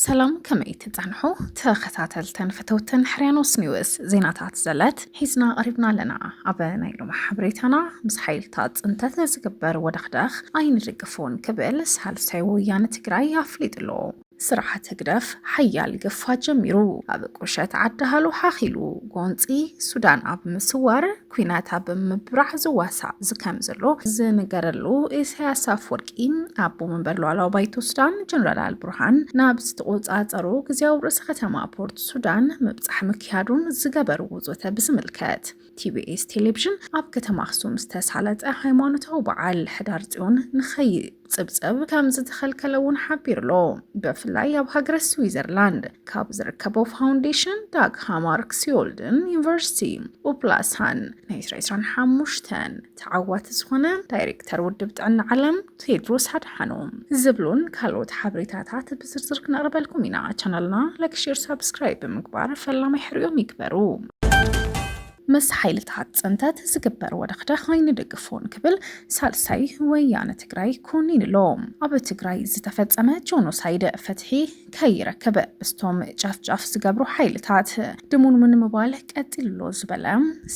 ሰላም ከመይ ትጸንሑ ተኸታተልተን ፈተውተን ሕርያኖስ ኒውስ ዜናታት ዘለት ሒዝና ቀሪብና ኣለና ኣብ ናይ ሎሚ ሓበሬታና ምስ ሓይልታት ፅንተት ንዝግበር ወደኽደኽ ኣይንድግፎን ክብል ሳልሳይ ወያነ ትግራይ ኣፍሊጡ ኣሎ ስርዓት ህግደፍ ሓያል ግፋ ጀሚሩ ኣብ ቁሸት ዓዲ-ሃሎ ሓኺሉ ጎንጺ ሱዳን ኣብ ምስዋር ኩናት ኣብ ምብራዕ ዝዋሳእ ዝከም ዘሎ ዝንገረሉ ኢሳያስ ኣፍወርቂ ኣቦ መንበር ሉዓላዊ ባይቶ ሱዳን ጀነራል ኣልቡርሃን ናብ ዝተቆጻጸሩ ግዜያዊ ርእሰ ከተማ ፖርት ሱዳን ምብጻሕ ምክያዱን ዝገበርዎ ዘተ ብዝምልከት ቲቢኤስ ቴሌቪዥን ኣብ ከተማ ኣክሱም ዝተሳለጠ ሃይማኖታዊ በዓል ሕዳር ጽዮን ንኸይ ጽብጽብ ከም ዝተኸልከለ እውን ሓቢሩሎ ብፍላይ ኣብ ሃገረ ስዊዘርላንድ ካብ ዝርከቦ ፋውንዴሽን ዳግ ሃማርክ ሲዮልድን ዩኒቨርሲቲ ኡፕላሳን ናይ 25 ተዓዋቲ ዝኾነ ዳይሬክተር ውድብ ጥዕና ዓለም ቴድሮስ ኣድሓኖም ዝብሉን ካልኦት ሓበሬታታት ብዝርዝር ክነቕርበልኩም ኢና ቻናልና ላይክ ሼር ሳብስክራይብ ብምግባር ፈላማይ ሕርኦም ይግበሩ ምስ ሓይልታት ፅንተት ዝግበር ወደኽደኽ ኣይንድግፎን ክብል ሳልሳይ ወያነ ትግራይ ኮኒኑ'ሎ። ኣብ ትግራይ ዝተፈፀመ ጆኖሳይድ ፍትሒ ከይረክብ ምስቶም ጨፍጫፍ ዝገብሩ ሓይልታት ድሙንሙን ምባል ቀፂሉ'ሎ ዝበለ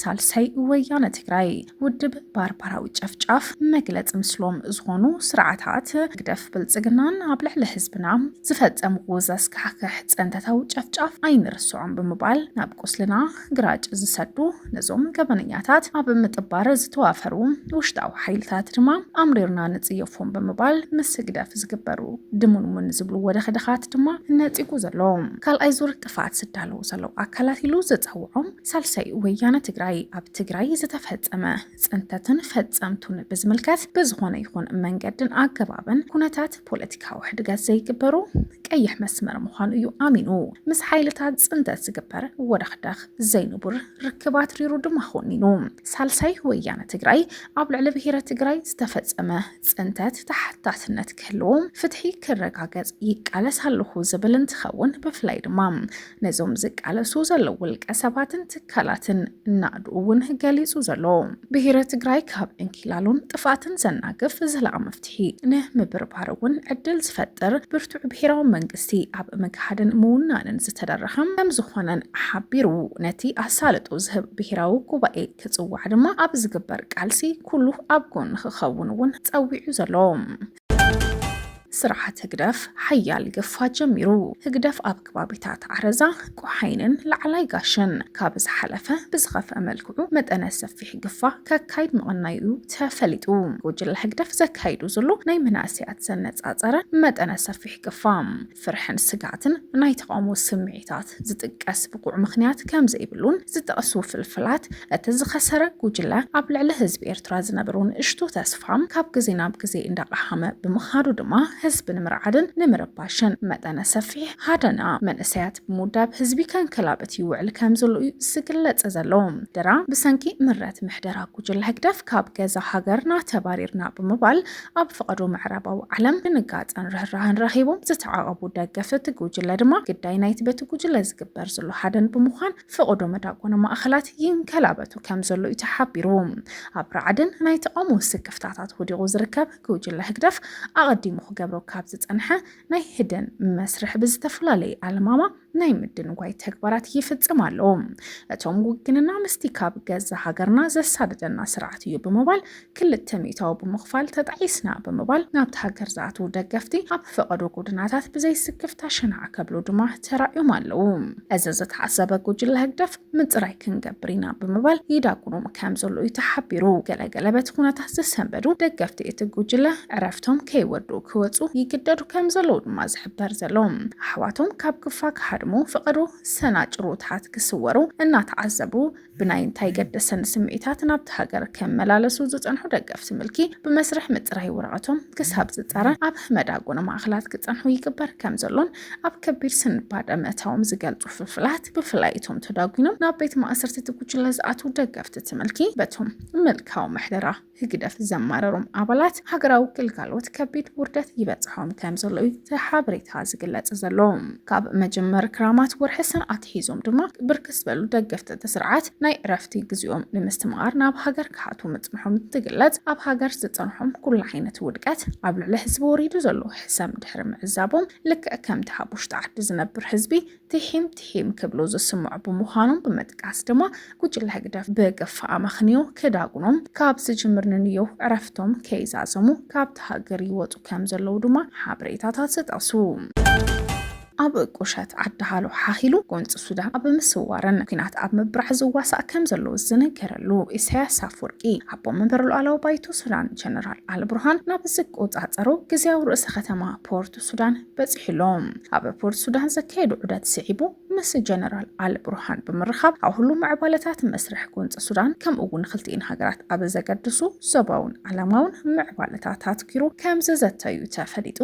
ሳልሳይ ወያነ ትግራይ ውድብ ባርባራዊ ጨፍጫፍ መግለፂ ምስሎም ዝኾኑ ስርዓታት ህግደፍ ብልፅግናን ኣብ ልዕሊ ህዝብና ዝፈፀምዎ ዘስካሕክሕ ፅንተታዊ ጨፍጫፍ ኣይንርስዖን ብምባል ናብ ቁስልና ግራጭ ዝሰዱ ነዞም ገበነኛታት ኣብ ምጥባር ዝተዋፈሩ ውሽጣዊ ሓይልታት ድማ ኣምሪርና ንጽየፎም ብምባል ምስ ህግደፍ ዝግበሩ ድሙንሙን ዝብሉ ወደኽደኻት ድማ ነጺጉ ዘሎ ካልኣይ ዙር ጥፋት ዝዳለዉ ዘለዉ ኣካላት ኢሉ ዝጸውዖም ሳልሳይ ወያነ ትግራይ ኣብ ትግራይ ዝተፈጸመ ፅንተትን ፈፀምቱን ብዝምልከት ብዝኾነ ይኹን መንገድን ኣገባብን ኩነታት ፖለቲካዊ ሕድገት ዘይግበሩ ቀይሕ መስመር ምዃኑ እዩ ኣሚኑ ምስ ሓይልታት ፅንተት ዝግበር ወደኽደኽ ዘይንቡር ርክብ ኣትሪሩ ድማ ኮኒኑ ሳልሳይ ወያነ ትግራይ ኣብ ልዕሊ ብሄረ ትግራይ ዝተፈፀመ ፅንተት ተሓታትነት ክህልዎ ፍትሒ ክረጋገፅ ይቃለስ ኣለኹ ዝብል እንትኸውን ብፍላይ ድማ ነዞም ዝቃለሱ ዘለዉ ውልቀ ሰባትን ትካላትን ናእዱ እውን ገሊጹ ዘሎ ብሄረ ትግራይ ካብ ዕንኪላሉን ጥፍኣትን ዘናግፍ ዘላቒ መፍትሒ ንምብርባር እውን ዕድል ዝፈጥር ብርቱዕ ብሄራዊ መንግስቲ ኣብ ምግሃድን ምውናንን ዝተደረኸ ከም ዝኾነን ሓቢሩ ነቲ ኣሳልጦ ዝህብ ብሄራዊ ጉባኤ ክጽዋዕ ድማ ኣብ ዝግበር ቃልሲ ኩሉ ኣብ ጎኒ ክኸውን እውን ጸዊዑ ዘሎ ስርዓት ህግደፍ ሓያል ግፋ ጀሚሩ። ህግደፍ ኣብ ክባቢታት ዓረዛ፣ ቆሓይንን ላዕላይ ጋሽን ካብ ዝሓለፈ ብዝኸፍኣ መልክዑ መጠነ ሰፊሕ ግፋ ከካይድ ምቕናዩ'ዩ ተፈሊጡ። ጉጅለ ህግደፍ ዘካይዱ ዝሎ ናይ መናእሰያት ዘነጻጸረ መጠነ ሰፊሕ ግፋ፣ ፍርሕን ስግኣትን ናይ ተቓውሞ ስምዒታት ዝጥቀስ ብቑዕ ምኽንያት ከም ዘይብሉን ዝጠቕሱ ፍልፍላት፣ እቲ ዝኸሰረ ጉጅለ ኣብ ልዕሊ ህዝቢ ኤርትራ ዝነበሮ ንእሽቶ ተስፋ ካብ ግዜ ናብ ግዜ እንዳቐሃመ ብምኻዱ ድማ ህዝቢ ንምርዓድን ንምርባሽን መጠነ ሰፊሕ ሃደና መንእሰያት ብምውዳብ ህዝቢ ከንከላብት ይውዕል ከም ዘሎ'ዩ ዝግለጽ ዘሎ። ድራ ብሰንኪ ምረት ምሕደራ ጉጅለ ህግደፍ ካብ ገዛ ሃገርና ተባሪርና ብምባል ኣብ ፍቐዶ ምዕራባዊ ዓለም ድንጋጸን ርህራህን ረኺቦም ዝተዓቐቡ ደገፍቲ እቲ ጉጅለ ድማ ግዳይ ናይቲ በቲ ጉጅለ ዝግበር ዘሎ ሃደን ብምዃን ፍቐዶ መዳጎኒ ማእኸላት ይንከላበቱ ከምዘሎ እዩ ተሓቢሩ። ኣብ ራዕድን ናይ ተቓውሞ ስክፍታታት ወዲቑ ዝርከብ ጉጅለ ህግደፍ ኣቐዲሙ ክገብሮ ካብ ዝጸንሐ ናይ ህደን መስርሕ ብዝተፈላለየ ኣለማማ ናይ ምድንጓይ ተግባራት ይፍጽም ኣሎ እቶም ውግንና ምስቲ ካብ ገዛ ሃገርና ዘሳድደና ስርዓት እዩ ብምባል ክልተ ሚእታዊ ብምኽፋል ተጣዒስና ብምባል ናብቲ ሃገር ዝኣትዉ ደገፍቲ ኣብ ፈቐዶ ጎድናታት ብዘይስክፍታ ሽናዕ ከብሉ ድማ ተራእዮም ኣለዉ። እዚ ዝተዓዘበ ጉጅለ ህግደፍ ምፅራይ ክንገብር ኢና ብምባል ይዳጉኖም ከምዘሎ እዩ ተሓቢሩ። ገለገለ በቲ ኩነታት ዝሰንበዱ ደገፍቲ እቲ ጉጅለ ዕረፍቶም ከይወድኡ ክወፁ ይግደዱ ከምዘለዉ ድማ ዝሕበር ዘሎ። ኣሕዋቶም ካብ ክፋ ክሃድሙ ፍቐዶ ሰናጭሮታት ክስወሩ እናተዓዘቡ ብናይ እንታይ ገደሰኒ ስምዒታት ናብቲ ሃገር ክመላለሱ ዝፀንሑ ደገፍቲ ምልኪ ብመስርሕ ምፅራይ ወረቐቶም ክሳብ ዝፃረ ኣብ መዳጎኒ ማእኸላት ክፀንሑ ይግበር ከምዘሎን ኣብ ከቢድ ስንባደ ምእታዎም ዝገልጹ ፍልፍላት ብፍላይ እቶም ተዳጒኖም ናብ ቤት ማእሰርቲ እቲ ጉጅለ ዝኣትዉ ደገፍቲ እቲ ምልኪ በቶም ምልካዊ ምሕደራ ህግደፍ ዘማረሮም ኣባላት ሃገራዊ ግልጋሎት ከቢድ ውርደት ይበጽሖም ከም ዘሎ እዩ እቲ ሓበሬታ ዝግለጽ ዘሎ። ካብ መጀመር ክራማት ወርሒ ሰነ ኣትሒዞም ድማ ብርክት ዝበሉ ደገፍቲ እቲ ስርዓት ናይ ዕረፍቲ ግዜኦም ንምስትምቓር ናብ ሃገር ክሓቱ ምጽንሖም እንትግለጽ ኣብ ሃገር ዝጸንሖም ኩሉ ዓይነት ውድቀት ኣብ ልዕሊ ህዝቢ ወሪዱ ዘሎ ሕሰም ድሕሪ ምዕዛቦም ልክዕ ከምቲ ኣብ ውሽጢ ዓዲ ዝነብር ህዝቢ ቲሒም ቲሒም ክብሉ ዝስምዑ ብምዃኖም ብምጥቃስ ድማ ጉጅለ ህግደፍ ብግፋ ኣመኽንዮ ክዳጉኖም ካብ ዝጅምር ንንዮ ዕረፍቶም ከይዛዘሙ ካብቲ ሃገር ይወጹ ከም ዘለዉ ድማ ሓበሬታታት ይጠቕሱ። ኣብ ቁሸት ዓዲ-ሃሎ ሓኺሉ ጎንፂ ሱዳን ኣብ ምስዋርን ኩናት ኣብ ምብራዕ ዝዋሳእ ከምዘሎ ዝንገረሉ ኢሳያስ ኣፍወርቂ፣ ኣቦ መንበር ሉኣላዊ ባይቶ ሱዳን ጀነራል ኣልቡርሃን ናብ ዝቆፃፀሮ ግዝያዊ ርእሰ ከተማ ፖርት ሱዳን በፂሑ ኣሎ። ኣብ ፖርት ሱዳን ዘካየዶ ዑደት ስዒቡ ምስ ጀነራል ኣልቡርሃን ብምርኻብ ኣብ ሁሉም ምዕባለታት መስርሕ ጎንፂ ሱዳን ከምኡ እውን ንክልቲኤን ሃገራት ኣብ ዘገድሱ ዞባውን ዓለማውን ምዕባለታት ኣትኲሩ ከምዝዘተዩ ተፈሊጡ።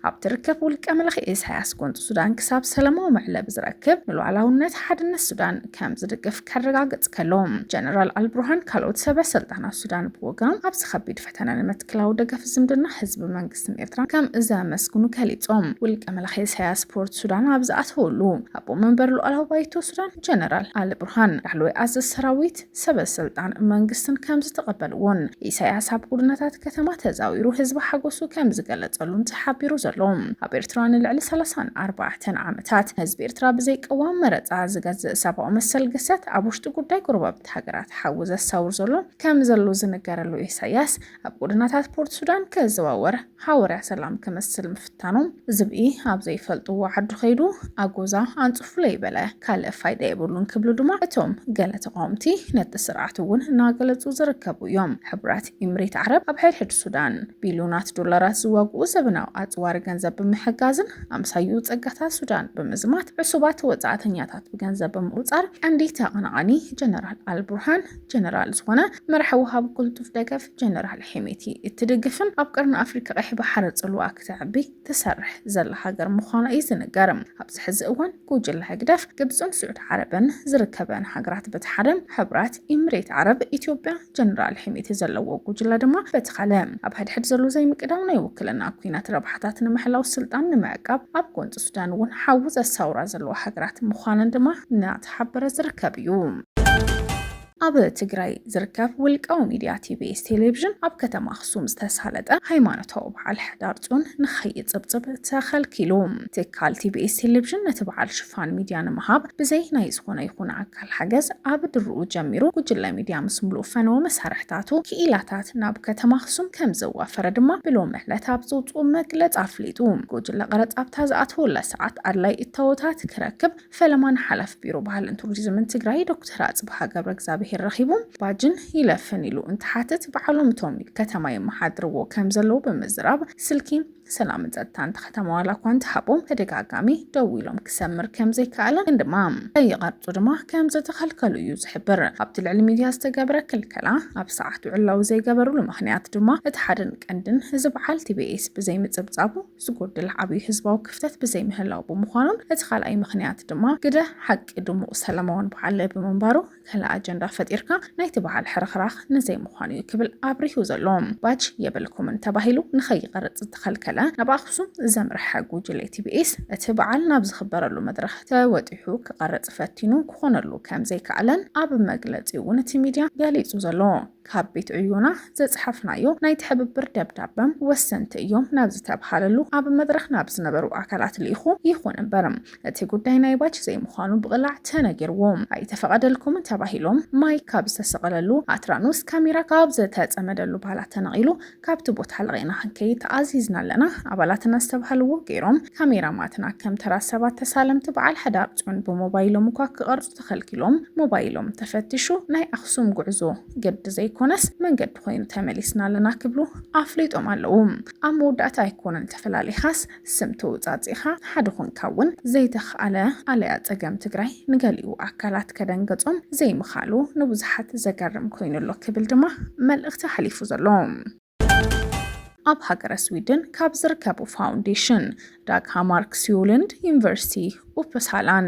ኣብ ትርከብ ውልቀ መላኺ ኢሳያስ ጎንፂ ሱዳን ክሳብ ሰላማዊ መዕለቢ ዝረክብ ንሉዓላውነት ሓድነት ሱዳን ከም ዝድግፍ ከረጋግፅ ከሎ ጀነራል ኣልብርሃን ካልኦት ሰበ ስልጣናት ሱዳን ብወገኖም ኣብዚ ከቢድ ፈተነ ንምትክላዊ ደገፍ ዝምድና ህዝቢ መንግስትን ኤርትራ ከም ዘመስግኑ ገሊፆም ውልቀ መላኺ ኢሳያስ ፖርት ሱዳን ኣብ ዝኣተወሉ ኣቦ መንበር ሉዓላዊ ባይቶ ሱዳን ጀነራል ኣልብርሃን ላዕለዋይ ኣዘዝ ሰራዊት ሰበ ስልጣን መንግስትን ከም ዝተቐበልዎን ኢሳያስ ኣብ ጉድነታት ከተማ ተዛዊሩ ህዝቢ ሓጎሱ ከም ዝገለጸሉን ተሓቢሩ ዘሎ። ኣብ ኤርትራ ንልዕሊ ሰላሳን ኣርባዕተን ዓመታት ንህዝቢ ኤርትራ ብዘይ ቅዋም መረጻ ዝገዝእ ሰብኣዊ መሰል ግሰት ኣብ ውሽጢ ጉዳይ ጎረባብቲ ሃገራት ሓዊ ዘሳውር ዘሎ ከም ዘሎ ዝንገረሉ ኢሳያስ ኣብ ጎደናታት ፖርት ሱዳን ክዘዋወር ሃወርያ ሰላም ክመስል ምፍታኑ ዝብኢ ኣብ ዘይፈልጥዎ ዓዱ ከይዱ ኣጎዛ ኣንጽፉለይ በለ ካልእ ፋይዳ የብሉን ክብሉ ድማ እቶም ገለ ተቓወምቲ ነቲ ስርዓት እውን እናገለጹ ዝርከቡ እዮም። ሕቡራት ኢምሬት ዓረብ ኣብ ሕድሕድ ሱዳን ቢልዮናት ዶላራት ዝዋግኡ ዘበናዊ ኣጽዋር ገንዘብ ብምሕጋዝን ኣምሳይኡ ጸጋታት ሱዳን ብምዝማት ዕሱባት ወጻእተኛታት ብገንዘብ ብምቑጻር ቀንዲ ተቐናቓኒ ጀነራል ኣልቡርሃን ጀነራል ዝኾነ መራሒ ወሃቢ ቅልጡፍ ደገፍ ጀነራል ሄሜቲ እትድግፍን ኣብ ቀርኒ ኣፍሪካ ቀይሕ ባሕሪ ፅልዋኣ ክተዕቢ ትሰርሕ ዘላ ሃገር ምዃና እዩ ዝንገር። ኣብዚ ሕዚ እዋን ጉጅለ ህግደፍ ግብፅን ስዑድ ዓረብን ዝርከበን ሃገራት በቲ ሓደ ሕብራት ኢምሬት ዓረብ ኢትዮጵያ ጀነራል ሄሜቲ ዘለዎ ጉጅለ ድማ በቲ ካልእ ኣብ ሕድሕድ ዘሎ ዘይምቅዳው ናይ ውክልና ኩናት ረብሓታት ንምሕላው ስልጣን ንምዕቃብ ኣብ ጎንፂ ሱዳን እውን ሓዊ ዘሳውራ ዘለዋ ሃገራት ምዃነን ድማ እናተሓበረ ዝርከብ እዩ። ኣብ ትግራይ ዝርከብ ውልቃዊ ሚድያ ቲቢኤስ ቴሌቪዥን ኣብ ከተማ ኣኽሱም ዝተሳለጠ ሃይማኖታዊ በዓል ሕዳር ፅዮን ንኸይፅብፅብ ተኸልኪሉ። ትካል ቲቢኤስ ቴሌቪዥን ነቲ በዓል ሽፋን ሚድያ ንምሃብ ብዘይ ናይ ዝኾነ ይኹን ኣካል ሓገዝ ኣብ ድርኡ ጀሚሩ ጉጅለ ሚድያ ምስ ሙሉእ ፈነወ መሳርሕታቱ፣ ክኢላታት ናብ ከተማ ኣኽሱም ከምዘዋፈረ ድማ ብሎሚ ዕለት ኣብ ዘውፅኦ መግለፂ ኣፍሊጡ። ጉጅለ ቐረፅ ኣብታ ዝኣተወላ ሰዓት ኣድላይ እታወታት ክረክብ፣ ፈለማ ንሓላፊ ቢሮ ባህልን ቱሪዝምን ትግራይ ዶክተር ኣፅብሃ ገብረ እግዚኣብሄር ረኺቡ ባጅን ይለፍን ኢሉ እንትሓትት በዓሎም እቶም ከተማ የመሓድርዎ ከም ዘለዉ ብምዝራብ ስልኪ ሰላምን ጸጥታን እታ ከተማ ዋላ እኳ እንተሃቦም ተደጋጋሚ ደዊሎም ክሰምር ከም ዘይከኣለ ግን ድማ ከይቐርጹ ድማ ከም ዝተኸልከሉ እዩ ዝሕብር። ኣብቲ ልዕሊ ሚድያ ዝተገብረ ክልከላ ኣብ ሰዓቱ ዕላዊ ዘይገበርሉ ምኽንያት ድማ እቲ ሓደን ቀንድን እዚ በዓል ቲቢኤስ ብዘይምጽብጻቡ ዝጎድል ዓብይ ህዝባዊ ክፍተት ብዘይምህላው ብምዃኑን እቲ ካልኣይ ምኽንያት ድማ ግደ ሓቂ ድሙቕ ሰላማውን በዓል ብምንባሩ ካልእ ኣጀንዳ ፈጢርካ ናይቲ በዓል ሕርኽራኽ ንዘይምዃኑ እዩ ክብል ኣብሪሁ ዘሎ ባጅ የብልኩምን ተባሂሉ ንኸይቐርፅ ዝተኸልከለ ናብ ኣኽሱም ዘምረሐ ጉጅለ ቲቢኤስ እቲ በዓል ናብ ዝኽበረሉ መድረኽ ተወጢሑ ክቐርፅ ፈቲኑ ክኾነሉ ከምዘይከኣለን ኣብ መግለፂኡ ነቲ ሚድያ ገሊፁ ዘሎ ካብ ቤት ዕዮና ዘጽሓፍናዮ ናይ ትሕብብር ደብዳበ፣ ወሰንቲ እዮም ናብ ዝተብሃለሉ ኣብ መድረኽ ናብ ዝነበሩ ኣካላት ልኢኹ። ይኹን እምበር እቲ ጉዳይ ናይ ባች ዘይምዃኑ ብቕላዕ ተነጊርዎ። ኣይተፈቐደልኩምን ተባሂሎም ማይክ ካብ ዝተሰቐለሉ ኣትራኖስ ካሜራ ካብ ዝተጸመደሉ ባላ ተነቒሉ ካብቲ ቦታ ለቒቕና ክንከይድ ተኣዚዝና ኣለና፣ ኣባላትና ዝተብሃልዎ ገይሮም፣ ካሜራማትና ከም ተራ ሰባት ተሳለምቲ በዓል ሕዳር ጽዮን ብሞባይሎም እኳ ክቐርጹ ተኸልኪሎም፣ ሞባይሎም ተፈቲሹ ናይ ኣኽሱም ጉዕዞ ግዲ ዘይኮነስ መንገዲ ኮይኑ ተመሊስና ኣለና ክብሉ ኣፍሊጦም ኣለዉ። ኣብ መወዳእታ ኣይኮነን ተፈላሊኻስ፣ ስም ተወጻጺእኻ ሓደ ኾንካ እውን ዘይተኽኣለ ኣለያ ጸገም ትግራይ ንገሊኡ ኣካላት ከደንገጾም ዘይምኽኣሉ ንብዙሓት ዘገርም ኮይኑ ኣሎ ክብል ድማ መልእኽቲ ኣሕሊፉ ዘሎ። ኣብ ሃገረ ስዊድን ካብ ዝርከቡ ፋውንዴሽን ዳግ ሃማርክስዩልንድ ዩኒቨርሲቲ ኡፕሳላን